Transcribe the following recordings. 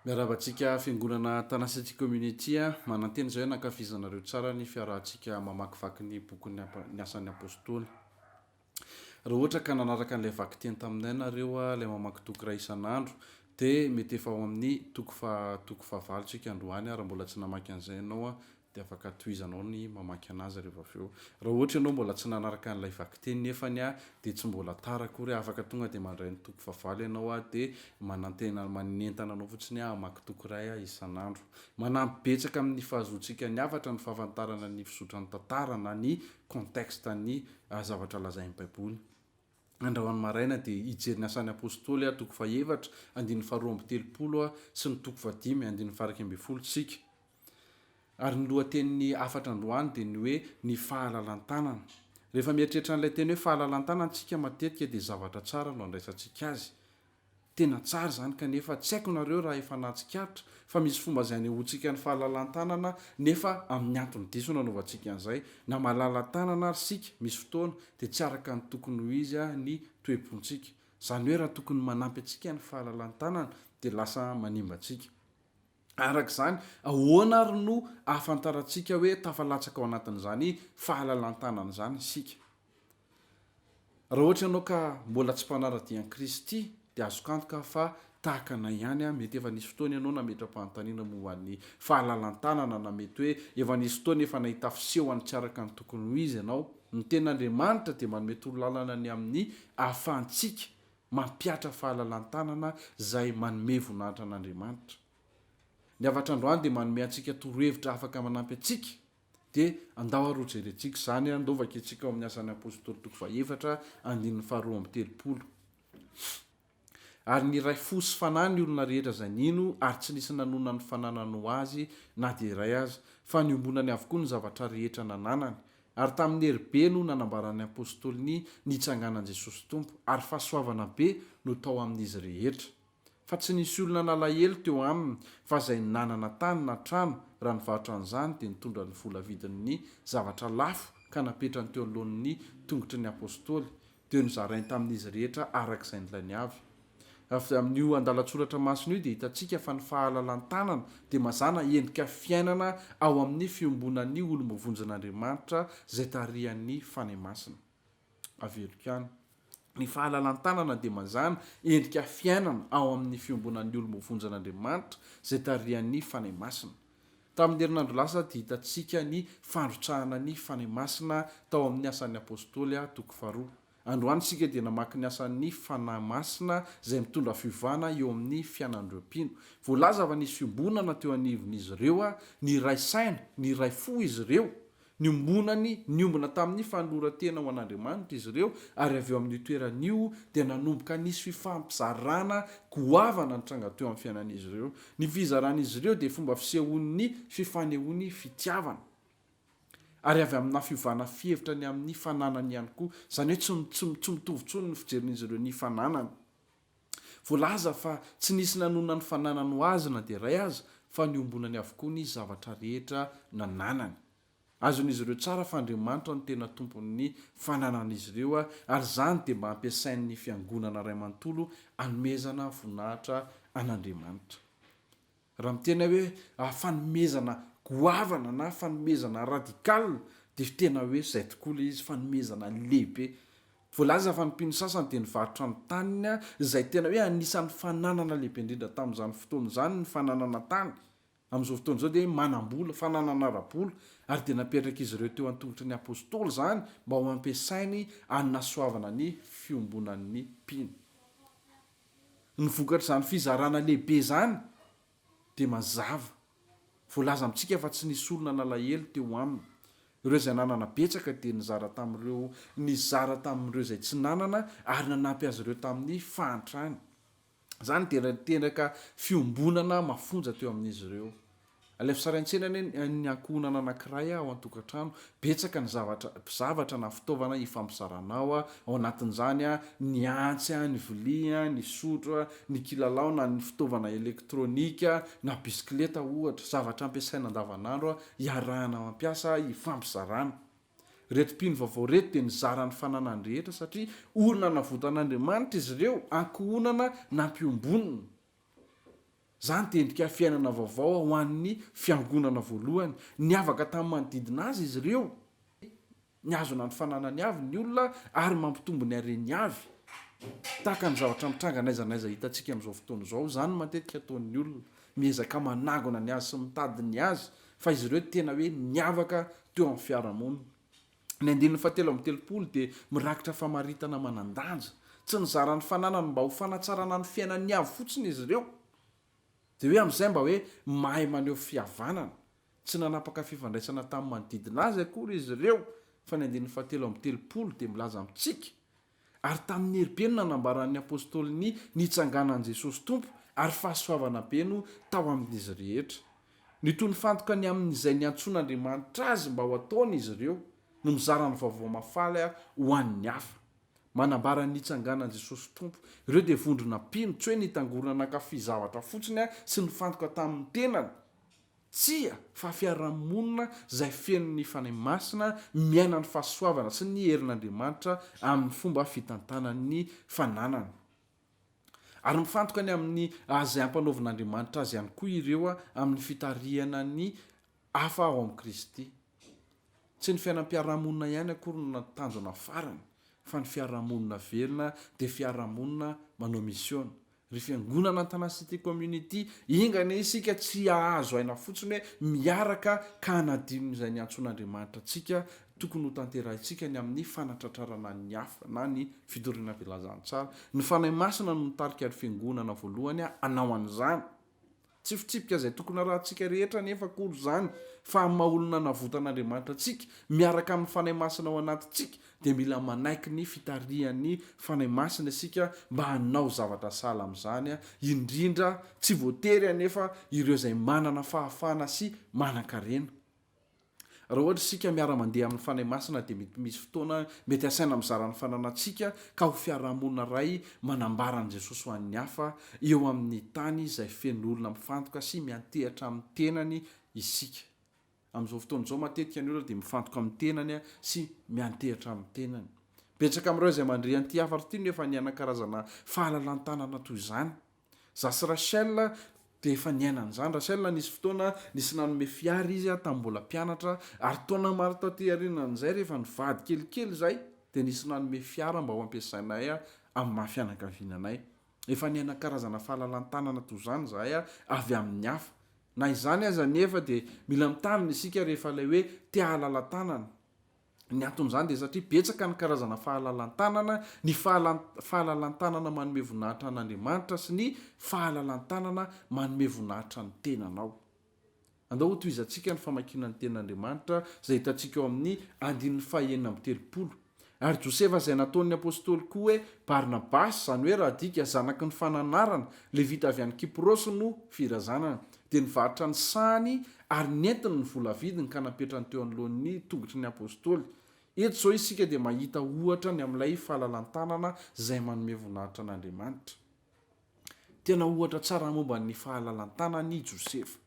Miarahaba antsika fiangonana Tanasetti Community a! Manantena izay hoe nankafizanareo tsara ny fiarahantsika mamakivaky ny bokin'ny Ny Asan'ny Apostoly. Raha ohatra ka nanaraka an'ilay vakiteny taminay nareo a, ilay mamaky toko iray isan'andro, dia mety efa ao amin'ny toko faha toko fahavalo tsika androany a, raha mbola tsy namaky an'izay ianao a, dia afaka tohizanao ny mamaky anazy rehefa avy eo. Raha ohatra ianao mbola tsy nanaraka an'ilay vakiteny nefany aho dia tsy mbola tara akory aho, afaka tonga dia mandray ny toko fahavalo ianao aho dia manantena manentana anao fotsiny aho hamaky toko iray aho isan'andro. Manampy betsaka amin'ny fahazoantsika ny hafatra ny fahafantarana ny fizotran'ny tantara na ny contexte ny zavatra lazain'ny baiboly. Andrahoany maraina dia hijery ny asan'ny apostoly aho, toko fahaefatra, andininy faharoa amby telopolo sy ny toko fahadimy, andininy faha iraika ambin'ny folo, isika. Ary ny lohatenin'ny hafatra androany dia ny hoe ny fahalalan-tanana. Rehefa mieritreritra an'ilay teny hoe fahalalan-tanana isika matetika dia zavatra tsara no andraisantsika azy. Tena tsara izany kanefa tsy haiko nareo raha efa nahatsikaritra fa misy fomba izay anehoantsika ny fahalalan-tanana nefa amin'ny antony diso no anaovantsika an'izay. Na malala tanana ary isika misy fotoana dia tsy araka ny tokony ho izy ny toe-pontsika. Izany hoe raha tokony manampy antsika ny fahalalan-tanana dia lasa manimba antsika. Araka izany, ahoana àry no ahafantarantsika hoe tafalatsaka ao anatin'izany fahalalan-tanana izany isika? Raha ohatra ianao ka mbola tsy mpanara-dia an'i Kristy, dia azoko antoka fa tahaka anay ihany, mety efa nisy fotoana ianao nametra-panontaniana momba ny fahalalan-tanana, na mety hoe efa nisy fotoana efa nahita fisehony tsy araka ny tokony ho izy ianao. Ny tenin'Andriamanitra dia manome torolalana ny amin'ny ahafahantsika Mampihatra fahalalan-tanana izay manome voninahitra an'Andriamanitra. Ny hafatr' androany dia manome antsika torohevitra afaka manampy antsika, dia andao ary hojerentsika izany, andao vakintsika ao amin'ny Asan'ny Apostoly toko fahaefatra, andininy faharoa amby telopolo. Ary niray fo sy fanahy ny olona rehetra izay nino, ary tsy nisy nanonona ny fananany ho azy na dia iray aza, fa niombonany avokoa ny zavatra rehetra nananany, Ary tamin'ny hery be no nanambaran'ny apostoly ny nitsanganan'i Jesosy Tompo, ary fahasoavana be no tao amin'izy rehetra. Fa tsy nisy olona nalahelo teo aminy, fa izay nanana tany na trano, raha nivarotra an'izany, dia nitondra ny vola vidin'ny zavatra lafo ka napetrany teo anoloan'ny tongotry ny apostoly, dia nozarainy tamin'izy rehetra araka izay nilainy avy. Avy amin'io andalan-tsoratra masina io dia hitantsika fa ny fahalalan-tanana dia mazàna endrika fiainana ao amin'ny fiombonan'ny olom-bovonjin'Andriamanitra izay tarihan'ny Fanahy Masina. Averiko ihany, ny fahalalan-tanana dia mazàna endrika fiainana ao amin'ny fiombonan'ny olom-bovonjin'Andriamanitra izay tarihan'ny Fanahy Masina. Tamin'ny herinandro lasa dia hitantsika ny fandrotsahana ny Fanahy Masina tao amin'ny Asan'ny Apôstôly, toko faharoa. Androany isika dia namaky ny asan'ny Fanahy Masina izay mitondra fiovana eo amin'ny fianan'ireo mpino. Voalaza fa nisy fiombonana teo anivon'izy ireo, niray saina, niray fo izy ireo, Niombonany, niombona tamin'ny fanoloran-tena ho an'Andriamanitra izy ireo, ary avy eo amin'io toerana io dia nanomboka nisy fifampizarana goavana nitranga teo amin'ny fiainan'izy ireo. Ny fizaran'izy ireo dia fomba fisehoan'ny fifanehoany fitiavana, ary avy aminà fiovana fihevitra ny amin'ny fananany ihany koa, izany hoe tsy tsy tsy mitovy intsony ny fijerin'izy ireo ny fananany. Voalaza fa tsy nisy nanonona ny fananany ho azy na dia iray aza, fa niombonany avokoa ny zavatra rehetra nananany. Azon'izy ireo tsara fa Andriamanitra no tena tompon'ny fananan'izy ireo, ary izany dia mba ampiasain'ny fiangonana iray manontolo hanomezana voninahitra an'Andriamanitra. Raha miteny aho hoe fanomezana goavana na fanomezana radical dia tena hoe izay tokoa ilay izy, fanomezana lehibe. Voalaza fa ny mpino sasany dia nivarotra ny taniny, izay tena hoe anisan'ny fananana lehibe indrindra tamin'izany fotoana izany ny fananana tany. Amin'izao fotoana izao dia manam-bola, fananana ara-bola, ary dia napetrak'izy ireo teo an-tongotry ny apostoly izany mba ho ampiasainy hanasoavana ny fiombonan'ny mpino. Ny vokatr'izany fizarana lehibe izany dia mazava. Voalaza amintsika fa tsy nisy olona nalahelo teo aminy. Ireo izay nanana betsaka dia nizara tamin'ireo nizara tamin'ireo izay tsy nanana ary nanampy azy ireo tamin'ny fahantrany. Izany dia niteraka fiombonana mafonja teo amin'izy ireo. Ilay fisaraintsaina anie ny ankohonana anankiray ao an-tokantrano, betsaka ny zavatra, zavatra na fitaovana ifampisarana ao, ao anatin'izany ny antsy, ny vilia, ny sotro, ny kilalao na ny fitaovana elektronika na bisikileta ohatra, zavatra ampiasaina andavanandro iarahana mampiasa, ifampizarana. Ireto mpino vaovao ireto dia nizara ny fananany rehetra satria olona navotan'Andriamanitra izy ireo, ankohonana nampiombonina. Izany dia endrika fiainana vaovao ho an'ny Fiangonana voalohany. Niavaka tamin'ny manodidina azy izy ireo, mihazona ny fananany avy ny olona ary mampitombo ny hareny avy. Tahaka ny zavatra mitranga n'aiza n'aiza hitantsika amin'izao fotoana izao, izany no matetika ataon'ny olona, miezaka manangona ny azy sy mitady ny azy, fa izy ireo tena hoe niavaka teo amin'ny fiarahamonina. Ny andininy fahatelo amby telopolo dia mirakitra famaritana manan-danja. Tsy nizara ny fananany mba ho fanatsarana ny fiainan'ny hafa fotsiny izy ireo, dia hoe amin'izay mba hoe mahay maneho fihavanana. Tsy nanapaka fifandraisana tamin'ny manodidina azy akory izy ireo, fa ny andininy fahatelo amby telopolo dia milaza amintsika Ary tamin'ny hery be no nanambaran'ny apostoly ny nitsanganan'i Jesosy Tompo, ary fahasoavana be no tao amin'izy rehetra. Nitohy nifantoka ny amin'izay niantsoan'Andriamanitra azy mba ho ataony izy ireo, no mizara ny vaovao mahafaly ho an'ny hafa. Manambara ny nitsanganan'i Jesosy Tompo. Ireo dia vondrona mpino, tsy hoe nitangorona nankafy zavatra fotsiny sy nifantoka tamin'ny tenany. Tsia, fa fiarahamonina izay feno ny Fanahy Masina, miaina ny fahasoavana sy ny herin'Andriamanitra amin'ny fomba fitantanan'ny fananany. Ary mifantoka ny amin'ny izay ampanaovin'Andriamanitra azy ihany koa ireo amin'ny fitarihana ny hafa ao amin'i Kristy. Tsy ny fiainam-piarahamonina ihany akory no tanjona farany, fa ny fiarahamonina velona dia fiarahamonina manao misiona, Ry Fiangonana Antanacity Community, enga anie isika tsy hahazo aina fotsiny hoe miaraka ka hanadino izay niantsoan'Andriamanitra antsika, tokony hotanterahintsika ny amin'ny fanatratrarana ny hafa na ny fidoriana velazantsara. Ny Fanahy Masina no mitarika ry Fiangonana voalohany hanao an'izany. Tsy fitsipika izay tokony harahantsika rehetra anefa akory izany, fa amin'ny maha-olona navotan'Andriamanitra antsika, miaraka amin'ny Fanahy Masina ao anatintsika, dia mila manaiky ny fitarihan'ny Fanahy Masina isika mba hanao zavatra sahala amin'izany, indrindra, tsy voatery anefa, ireo izay manana fahafahana sy manankarena. Raha ohatra isika miara-mandeha amin'ny Fanahy Masina dia mety misy fotoana mety hasaina mizara ny fananantsika ka ho fiarahamonina iray manambara an'i Jesosy ho an'ny hafa eo amin'ny tany izay feno olona mifantoka sy miantehatra amin'ny tenany isika. Amin'izao fotoana izao matetika ny olona dia mifantoka amin'ny tenany sy miantehatra amin'ny tenany. Betsaka amin'ireo izay mandre an'ity hafatra ity no efa nihanan-karazana fahalalan-tanana toy izany. Za sy Rachel dia efa niaina an'izany. Rachel nisy fotoana nisy nanome fiara izy tamin'ny mbola mpianatra, ary taona maro taty aorianan'izay, rehefa nivady kelikely izay, dia nisy nanome fiara mba ho ampiasainay amin'ny maha fianakaviana anay. Efa niaina karazana fahalalan-tanana toy izany izahay avy amin'ny hafa. Na izany aza anefa, dia mila mitandrina isika rehefa ilay hoe te-hahalala-tanana. Ny anton'izany dia satria betsaka ny karazana fahalalan-tanana, ny fahalalan-tanana manome voninahitra an'Andriamanitra sy ny fahalalan-tanana manome voninahitra ny tenanao. Andao hotohizantsika ny famakiana ny Tenin'Andriamanitra izay hitantsika ao amin'ny andininy fahenina amby telopolo. Ary Josefa izay nataon'ny apostoly koa hoe Barnabasy, izany hoe raha adika, zanaky ny fananarana, Levita avy any Kiprosy no firazanana. Dia nivarotra ny sahany ary nentiny ny vola vidiny ka napetrany teo anoloan'ny tongotry ny Apostoly. Eto izao isika dia mahita ohatra ny amin'ilay fahalalan-tanana izay manome voninahitra an'Andriamanitra. Tena ohatra tsara momba ny fahalalan-tanana i Josefa.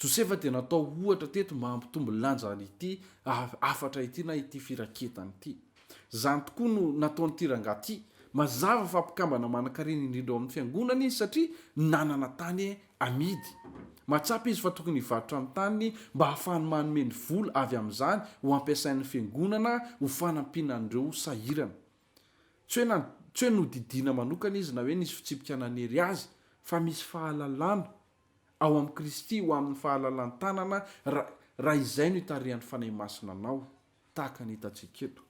Josefa dia natao ohatra teto mba hampitombo ny lanjan'ity hafatra ity na ity firaketana ity. Izany tokoa no nataon'ity rangahy ity. Mazava fa mpikambana manankarena indrindra ao amin'ny Fiangonana izy satria nanana tany amidy. Mahatsapa izy fa tokony hivarotra ny taniny mba hahafahany manome ny vola avy amin'izany ho ampiasain'ny Fiangonana ho fanampiana an'ireo sahirana. Tsy hoe na, tsy hoe nodidiana manokana izy na hoe nisy fitsipika nanery azy fa misy fahalalana ao amin'i Kristy ho amin'ny fahalalan-tanana raha, raha izay no itarihan'ny Fanahy Masina anao. tahaka ny hitantsika eto.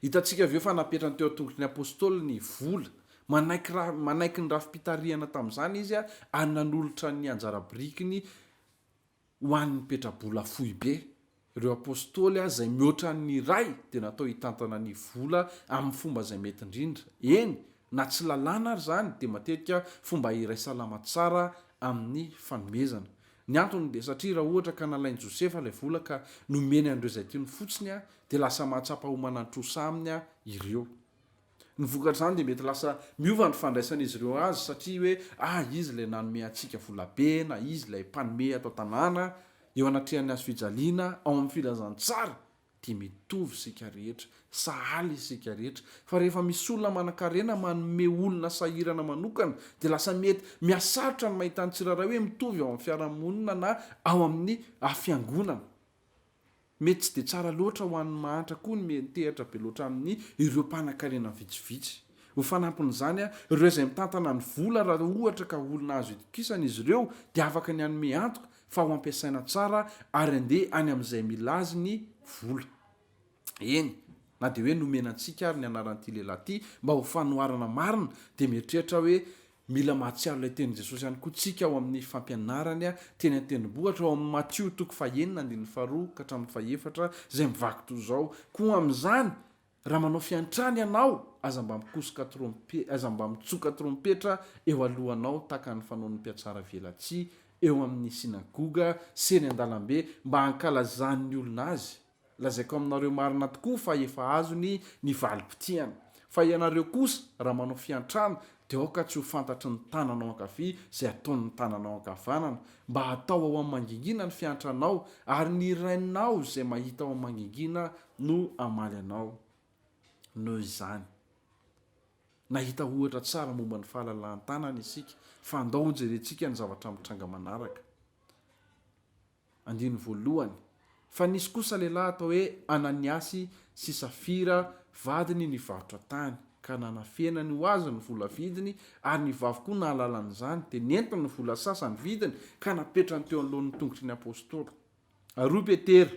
Hitantsika avy eo fa napetrany teo an-tongotry ny apôstôly ny vola. Manaiky ra- manaiky ny rafi-pitarihana tamin'izany izy ary nanolotra ny anjara birikiny ho an'ny mpetra-bola foibe. Ireo apôstôly, izay mihoatra ny iray, dia natao hitantana ny vola amin'ny fomba izay mety indrindra. Eny, Na tsy lalàna ary izany dia matetika fomba iray salama tsara amin'ny fanomezana. Ny antony dia satria raha ohatra ka nalain'i Josefa ilay vola ka nomeny an'ireo izay tiany fotsiny dia lasa mahatsapa ho manan-trosa aminy ireo. Ny vokatr'izany dia mety lasa miova ny fandraisan'izy ireo azy satria hoe ah izy ilay nanome antsika volabe na izy ilay mpanome ato an-tanàna, eo anatrehan'ny hazofijaliana, ao amin'ny filazantsara. dia mitovy isika rehetra, sahala isika rehetra, fa rehefa misy olona manankarena manome olona sahirana manokana dia lasa mety mihasarotra ny mahita ny tsirairay hoe mitovy ao amin'ny fiarahamonina na ao amin'ny fiangonana. Mety tsy dia tsara loatra ho an'ny mahantra koa ny miantehatra be loatra amin'ny ireo mpanankarena vitsivitsy. Ho fanampin'izany, ireo izay mitantana ny vola raha ohatra ka olona azo itokisana izy ireo dia afaka ny hanome antoka fa ho ampiasaina tsara ary andeha any amin'izay mila azy ny vola. Eny, na dia hoe nomena antsika ary ny anaran'ity lehilahy ity mba ho fanoharana marina, dia mieritreritra aho hoe mila mahatsiaro ilay tenin'i Jesosy ihany koa tsika ao amin'ny fampianarany teny an-tendrombohitra, ao amin'ny Matio toko fahenina andininy faharoa ka hatramin'ny fahefatra, izay mivaky toy izao, Koa amin'izany, Raha manao fiantrana ianao, aza mba mikosoka trompe, aza mba mitsoka trompetra eo alohanao tahaka ny fanaon'ny mpiatsara velatsihy eo amin'ny synagoga sy eny an-dalambe mba hankalazan'ny olona azy. Lazaiko aminareo marina tokoa fa efa azony ny valim-pitiany. Fa ianareo kosa, raha manao fiantrana, Dia aoka tsy ho fantatry ny tananao ankavia izay ataon'ny tananao ankavanana, mba hatao ao amin'ny mangingina ny fiantranao, ary ny Rainao izay mahita ao amin'ny mangingina no hamaly anao. Noho izany, nahita ohatra tsara momba ny fahalalahan-tanana isika, fa andao hojerentsika ny zavatra mitranga manaraka. Andininy voalohany, Fa nisy kosa lehilahy atao hoe Ananiasy sy Safira vadiny nivarotra tany, ka nanafenany ho azy ny vola vidiny, ary ny vavy koa nahalala an'izany, dia nentiny ny vola sasany vidiny, ka napetrany teo anoloan'ny tongotry ny apostoly. Ary hoy Petera,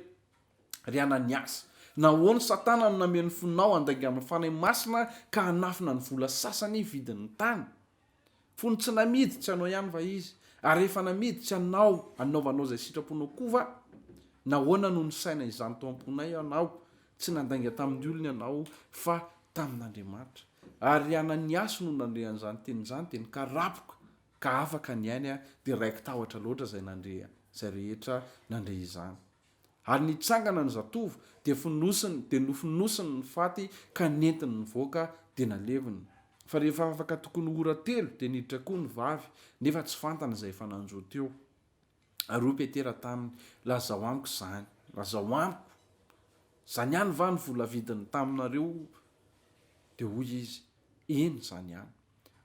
Ry Ananiasy, nahoana Satana no nameno fonao handainga amin'ny Fanahy Masina ka hanafina ny vola sasany vidin'ny tany? Fony tsy namidy, tsy anao ihany va izy? Ary rehefa namidy, tsy anao anaovanao izay sitraponao koa va? Nahoana no nisaina izany tao am-ponay ianao? Tsy nandainga tamin'ny olona ianao, fa tamin'Andriamanitra. Ary i Ananiasy no nandre an'izany teny izany, dia nikarapoka ka afaka ny ainy, dia raiki-tahotra loatra izay nandre, izay rehetra nandre izany. Ary nitsangana ny zatovo, dia fonosiny, dia nofonosiny ny faty, ka nentiny nivoaka, dia naleviny. Fa rehefa afaka tokony ho ora telo, dia niditra koa ny vavy, nefa tsy fantany izay efa nanjo teo. Ary hoy Petera taminy, Lazao amiko izany. Lazao amiko. Izany ihany va no vola vidiny taminareo? Dia hoy izy, Eny, izany ihany.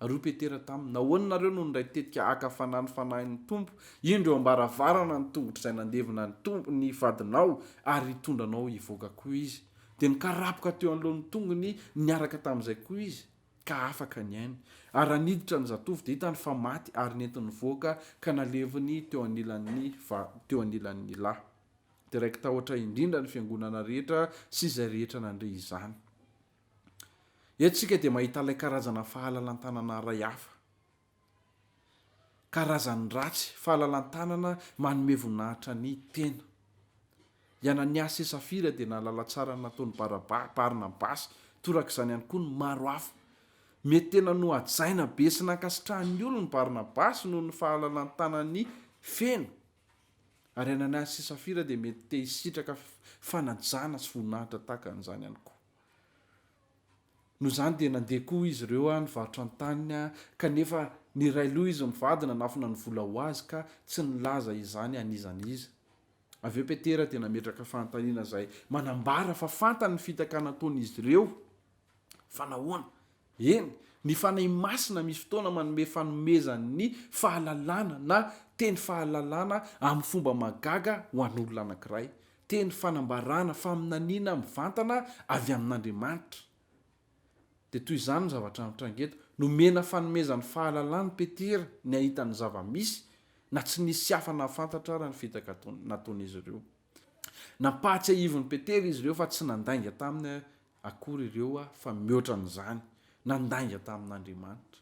Ary hoy Petera taminy, Nahoana ianareo no nindray tetika haka fanahy ny Fanahin' ny Tompo? Indro, eo am-baravarana ny tongotr'izay nandevina ny Tompo, ny vadinao, ary hitondra anao hivoaka koa izy. Dia nikarapoka teo anoloan'ny tongony niaraka tamin'izay koa izy, ka afaka ny ainy. Ary raha niditra ny zatovo, dia hitany fa maty, ary nentiny nivoaka, ka naleviny teo anilan'ny va, teo anilan'ny lahy. Dia raiki-tahotra indrindra ny fiangonana rehetra sy izay rehetra nandre izany. Eto isika dia mahita ilay karazana fahalalan-tanana iray hafa. Karazan'ny ratsy, fahalalan-tanana manome voninahitra ny tena. I Anania sy Safira dia nahalala tsara ny nataon'i Baraba, Barnabasy, torak'izany ihany koa ny maro hafa. Mety tena nohajaina be sy nankasitrahan'ny olony Barnabasy noho ny fahalalan-tanany feno. Ary Ananiasy sy Safira dia mety te hisitraka fanajana sy voninahitra tahaka an'izany ihany koa. Noho izany dia nandeha koa izy ireo ah, nivarotra ny taniny ah, kanefa niray loha izy mivady nanafina ny vola ho azy ka tsy nilaza izany an'iza an'iza. Avy eo Petera dia nametraka fanontaniana izay manambara fa fantany ny fitaka nataon'izy ireo. Fa nahoana? Eny, ny Fanahy Masina misy fotoana manome fanomezan'ny fahalalana na teny fahalalana amin'ny fomba mahagaga ho an'olona anankiray, teny fanambarana, faminaniana mivantana avy amin'Andriamanitra. Dia toy izany ny zavatra mitranga eto. Nomena fanomezan'ny fahalalana i Petera ny hahita ny zava-misy, na tsy nisy tsy afa-nahafantatra ara ny fitaka nataon'izy ireo. Nampahatsiahivin'i Petera izy ireo fa tsy nandainga tamin'ny akory ireo aho fa mihoatra an'izany nandainga tamin'Andriamanitra.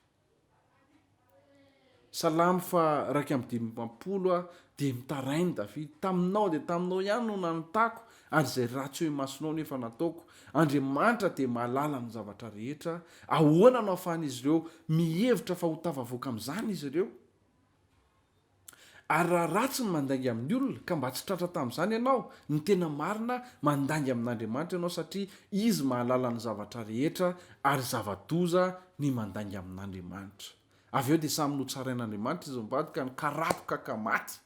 Salamo faha iraika amby dimampolo aho dia mitarainy Davida, taminao dia taminao ihany no nanotako ary izay ratsy eo imasonao no efa nataoko. Andriamanitra dia mahalala ny zavatra rehetra. Ahoana no ahafahan'izy ireo mihevitra fa ho tafavoaka amin'izany izy ireo? Ary raha ratsy ny mandainga amin'ny olona, ka mba tsy tratra tamin'izany ianao, ny tena marina, mandainga amin'Andriamanitra ianao satria Izy mahalala ny zavatra rehetra, ary zava-doza ny mandainga amin'Andriamanitra. Avy eo dia samy notsarain'Andriamanitra izy mivady ka nikaroka ka maty.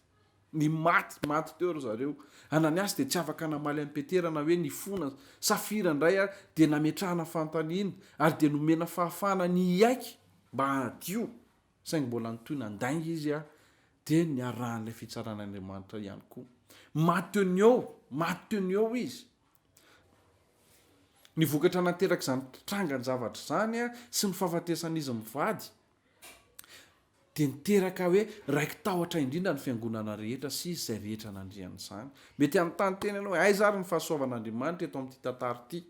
Nimaty, maty teo ry zareo. Ananiasy dia tsy afaka namaly an'i Petera na hoe nifona. Safira indray ary dia nametrahana fanontaniana, ary dia nomena fahafahana ny hiaiky mba hadio. saingy mbola nitohy nandainga izy ary dia niarahan'ilay fitsaran' Andriamanitra ihany koa. Maty teo ny eo, maty teo ny eo izy. Ny vokatra naterak'izany trangan-javatra izany sy ny fahafatesan'izy mivady dia niteraka hoe raiki-tahotra indrindra ny fiangonana rehetra sy izay rehetra nandrihana izany. Mety hanontany tena ianao hoe aiza ary ny fahasoavan'Andriamanitra eto amin'ity tantara ity?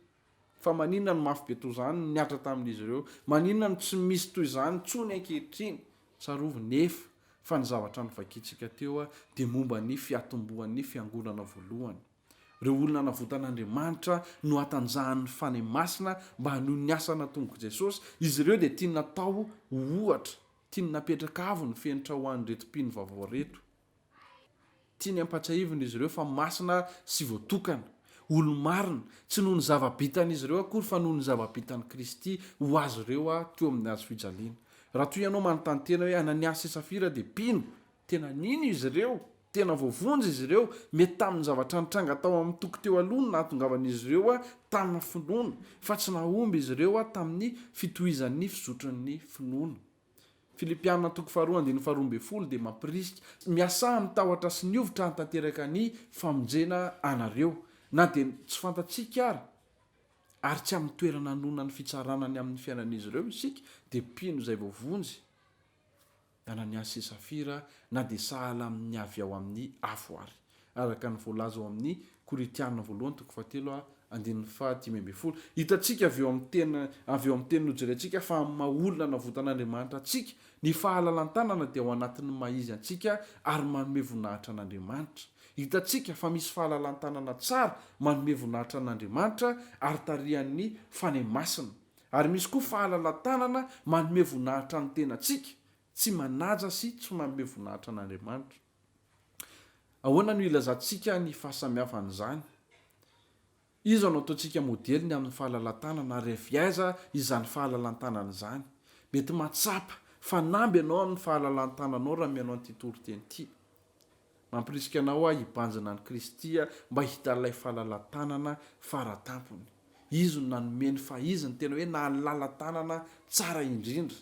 Fa maninona no mafy be toa izany ny Atra tamin'izy ireo? Maninona no tsy misy toy izany intsony ankehitriny? Tsarovy nefa fa ny zavatra novakintsika teo dia momba ny fiatombohan'ny fiangonana voalohany. Ireo olona navotan'Andriamanitra no hatanjahan'ny Fanahy Masina mba hanohy ny asa natombok'i Jesosy. Izy ireo dia tiany natao ho ohatra, tiany napetraka avo ny fenitra ho an'ireto mpino vaovao ireto. Tiany hampatsiahivina izy ireo fa masina sy voatokana, olo-marina, tsy noho ny zava-bitan'izy ireo akory fa noho ny zava-bitan'i Kristy ho azy ireo teo amin'ny hazo fijaliana. Raha toa ianao manontany tena hoe, Ananiasy sy Safira dia mpino? Tena nino izy ireo? Tena voavonjy izy ireo? Mety tamin'ny zavatra nitranga tao amin'ny toko teo aloha no nahatongavan'izy ireo tana finoana, fa tsy nahomby izy ireo tamin'ny fitohizan'ny fizotran'ny finoana. Filipiana toko faharoa andininy faharoa ambin'ny folo dia mampirisika, Miasà amin'ny tahotra sy ny hovitra hanatanteraka ny famonjena anareo, na dia tsy fantatsika ara, ary tsy amin'ny toerana anononan'ny fitsarana ny amin'ny fiainan'izy ireo isika, dia mpino izay voavonjy, Ananiasy sy Safira, na dia sahala amin'ny avy ao amin'ny afo ary. Araka ny voalaza ao amin'ny Korintiana voalohany toko fahatelo ha, andininy faha dimy ambin'ny folo, hitantsika avy eo amin'ny teny avy eo amin'ny teny nojerentsika fa amin'ny maha olona navotan'Andriamanitra antsika, ny fahalalan-tanana dia ao anatin'ny maha izy antsika ary manome voninahitra an'Andriamanitra. Hitantsika fa misy fahalalan-tanana tsara manome voninahitra an'Andriamanitra ary tarihan'ny Fanahy Masina. Ary misy koa fahalalan-tanana manome voninahitra ny tenantsika, tsy manaja sy tsy manome voninahitra an'Andriamanitra. Ahoana no ilazantsika ny fahasamihafan'izany? Iza no ataontsika modely ny amin'ny fahalalan-tanana, ary avy aiza izany fahalalan-tanana izany? Mety mahatsapa fanamby ianao amin'ny fahalalan-tananao raha mihaino an'ity toriteny ity. Mampirisika anao aho hibanjina an'i Kristy mba hahita ilay fahalalan-tanana fara tampony. Izy no nanome ny fahiziny tena hoe nahalala-tanana tsara indrindra.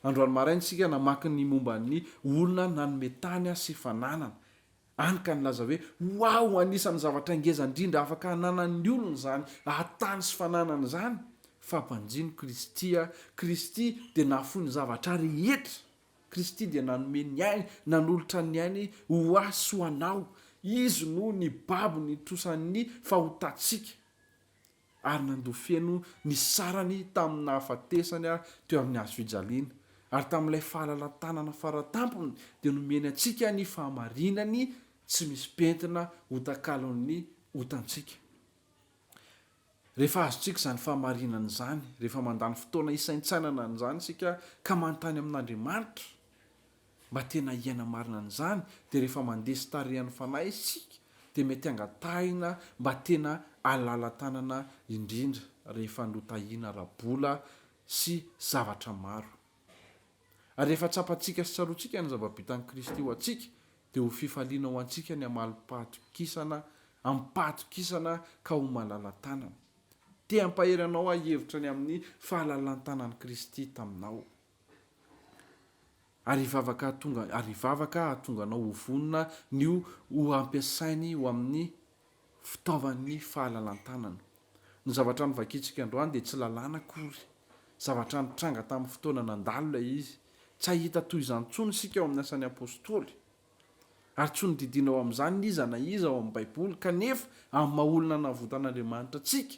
Androany maraina isika namaky ny momba ny olona nanome tany sy fananana, any ka nilaza hoe, Waouh, anisan'ny zavatra ngeza indrindra afaka hananan'ny olona izany hahatany sy fananana izany, fa banjino Kristy a, Kristy dia nahafoy ny zavatra rehetra, Kristy dia nanome ny ainy, nanolotra ny ainy ho ahy sy ho anao, Izy no nibabo ny trosan'ny fahotantsika. ary nandoa feno ny sarany tamin'ny nahafatesany ahy teo amin'ny hazo fijaliana, ary tamin'ilay fahalalan-tanana faratampony dia nomeny antsika ny fahamarinany tsy misy pentina ho takalon'ny otantsika. Rehefa azontsika izany fahamarinana izany, rehefa mandany fotoana hisaintsainana an'izany isika ka manontany amin'Andriamanitra, Mba tena hiaina marina an'izany dia rehefa mandresy tarehan'ny Fanahy isika dia mety hangatahina mba tena halala-tanana indrindra rehefa notahina ara-bola sy zavatra maro. Ary rehefa tsapantsika sy tsaroantsika ny zava-bitan'i Kristy ho antsika dia ho fifaliana ho antsika ny hamalim-pahatokisana amim-pahatokisana ka ho malala-tanana. Te hampahery anao hahevitra ny amin'ny fahalalan-tanan'i Kristy taminao. Ary hivavaka hahatonga ary hivavaka hahatonga anao ho vonona ny ho ho ampiasainy ho amin'ny fitaovan'ny fahalalan-tanana. Ny zavatra novakintsika androany dia tsy lalàna akory. Zavatra nitranga tamin'ny fotoana nandalo ilay izy. Tsy hahita toy izany intsony isika ao amin'ny Asan'ny Apostoly. Ary tsy nodidiana ao amin'izany ny iza na iza ao amin'ny Baiboly, kanefa amin'ny maha-olona navotan'Andriamanitra antsika,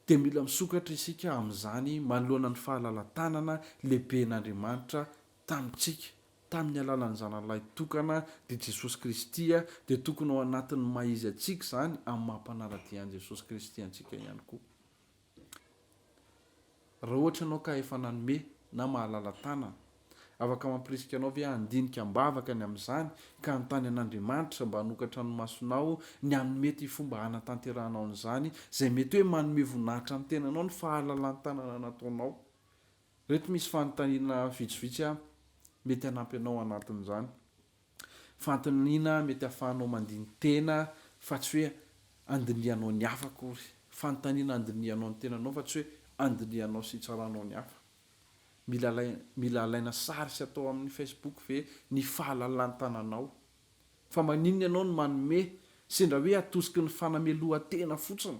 dia mila misokatra isika amin'izany manoloana ny fahalala-tanana lehiben'Andriamanitra tamintsika, tamin'ny alalan'ny Zanany Lahitokana, dia Jesosy Kristy, dia tokony ao anatin'ny maha-izy antsika izany amin'ny maha-mpanara-dia an'i Jesosy Kristy antsika ihany koa. Raha ohatra ianao ka efa nanome na mahalala tanana, afaka mampirisika anao ve handinika am-bavaka ny amin'izany ka hanontany an'Andriamanitra mba hanokatra ny masonao ny hanome ity fomba hanatanterahanao an'izany izay mety hoe manome voninahitra ny tenanao ny fahalalan-tanana nataonao? Ireto misy fanontaniana vitsivitsy mety hanampy anao hanaton'izany. Fanontaniana mety ahafahanao mandini-tena fa tsy hoe andinihanao ny hafa akory. Fanontaniana andinihanao ny tenanao fa tsy hoe andinihanao sy itsaranao ny hafa. Mila mila alaina sary sy atao amin'ny Facebook ve ny fahalalan-tananao? Fa maninona ianao no manome sendra hoe atosiky ny fanamelohan-tena fotsiny?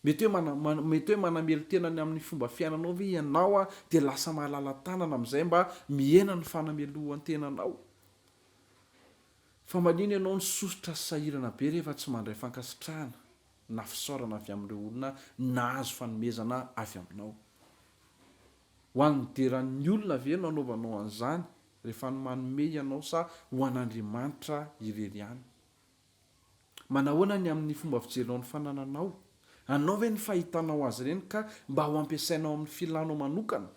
Mety hoe mety hoe manamelo-tena ny amin'ny fomba fiainanao ve ianao dia lasa mahalala tanana amin'izay mba mihena ny fanamelohan-tenanao? Fa manina ianao no sosotra sy sahirana be rehefa tsy mandray fankasitrahana na fisaorana avy amin'ireo olona nahazo fanomezana avy aminao? Ho an'ny nideran'ny olona ve no anaovanao an'izany rehefa manome ianao sa ho an'Andriamanitra irery ihany? Manahoana ny amin'ny fomba fijerinao ny fanananao? Anao ve ny fahitanao azy ireny ka mba ho ampiasainao amin'ny filanao manokana?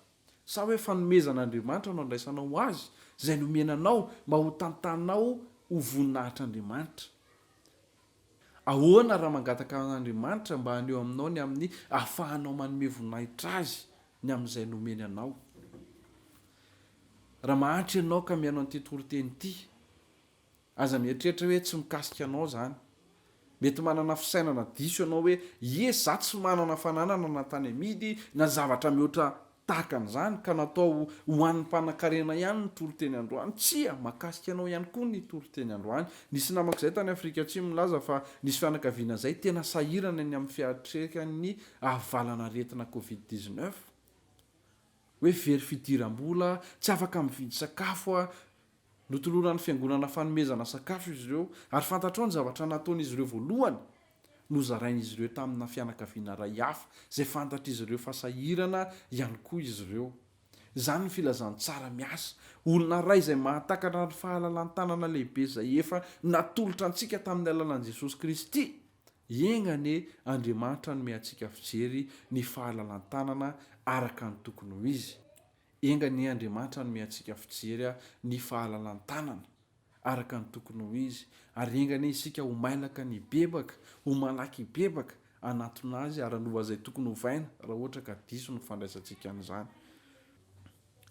Sa hoe fanomezan'Andriamanitra no andraisanao ho Azy izay nomena anao mba ho tantanao ho voninahitr'Andriamanitra? Ahoana raha mangataka an'Andriamanitra mba haneho aminao ny amin'ny ahafahanao manome voninahitra Azy ny amin'izay nomeny anao? Raha mahantra ianao ka mihaino an'ity toriteny ity, Aza mieritreritra hoe tsy mikasika anao zany. Mety manana fisainana diso ianao hoe ie za tsy manana fananana na tany amidy na zavatra mihoatra tahaka an'izany ka natao ho an'ny mpanankarena ihany ny toriteny androany. Tsia, mahakasika anao ihany koa ny toriteny androany. Nisy namako izay tany Afrika Atsimo nilaza fa nisy fianakaviana izay tena sahirana eny amin'ny fiatrehan'ny avalanaretina covid dix neuf. Hoe very fidiram-bola, tsy afaka mividy sakafo, Notoloran'ny fiangonana fanomezana sakafo izy ireo, ary fantatrao ny zavatra nataon'izy ireo voalohany? Nozarain'izy ireo tamina fianakaviana iray hafa, izay fantatr'izy ireo fa sahirana ihany koa izy ireo. Izany ny filazantsara miasa, olona iray izay mahatakatra ny fahalalan-tanana lehibe izay efa natolotra antsika tamin'ny alalan'i Jesosy Kristy. Enga anie Andriamanitra hanome antsika fijery ny fahalalan-tanana araka ny tokony ho izy. Enga anie Andriamanitra hanome antsika fijery ny fahalalan-tanana araka ny tokony ho izy, ary enga anie isika ho mailaka ny hibebaka, ho malaky hibebaka, hanatona Azy ary hanova izay tokony hovaina raha ohatra ka diso ny fandraisantsika an'izany.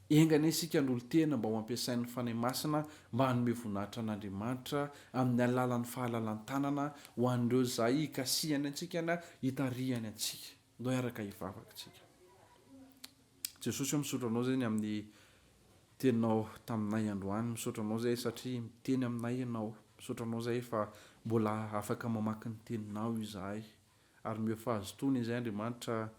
Enga anie isika hanolo-tena mba ho ampiasain'ny Fanahy Masina mba hanome voninahitra an'Andriamanitra amin'ny alalan'ny fahalalan-tanana ho an'ireo izay hikasihany antsika na hitarihany antsika. Ndao hiaraka hivavaka tsika. Jesosy oh misaotra anao zegny amin'ny teninao taminay androany misaotra anao zay satria miteny aminay ianao misaotra anao zay fa mbola afaka mamaky ny teninao izahay ary meo fahazotoana izay andriamanitra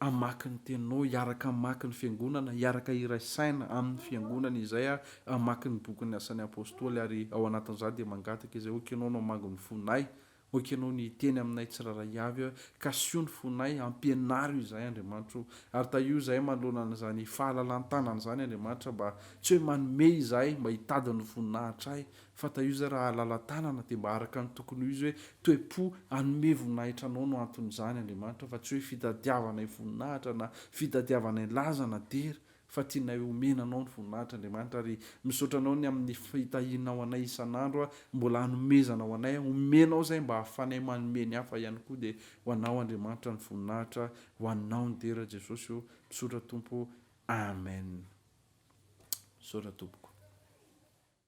amaky ny teninao hiaraka amaky ny fiangonana hiaraka iray saina amin'ny fiangonana izay a amaky ny bokin'ny asan'ny apostoly ary ao anatin'izany dia mangataka izay okenao no amango ny fonay Ho ekenao ny hiteny aminay tsirairay avy aho, kasio ny fonay, ampianaro izahay, Andriamanitra o. Ary tahio izahay manoloana an'izany fahalalan-tanana izany, Andriamanitra, mba tsy hoe manome izahay mba hitady ny voninahitrahy, fa tahio izahay raha halala-tanana, dia mba araka ny tokony ho izy hoe toe-po hanome voninahitra anao no anton'izany, Andriamanitra, fa tsy hoe fitadiavanay voninahitra, na fitadiavanay laza, na dera, fa tianay homena anao ny voninahitra Andriamanitra ary misaotra anao ny amin'ny fitahianao anay isan'andro aho mbola hanomezana ho anay aho omenao izay mba hahafanay manome ny hafa ihany koa dia ho anao Andriamanitra ny voninahitra ho anao ny dera Jesosy o misaotra Tompo Amen misaotra tompoko.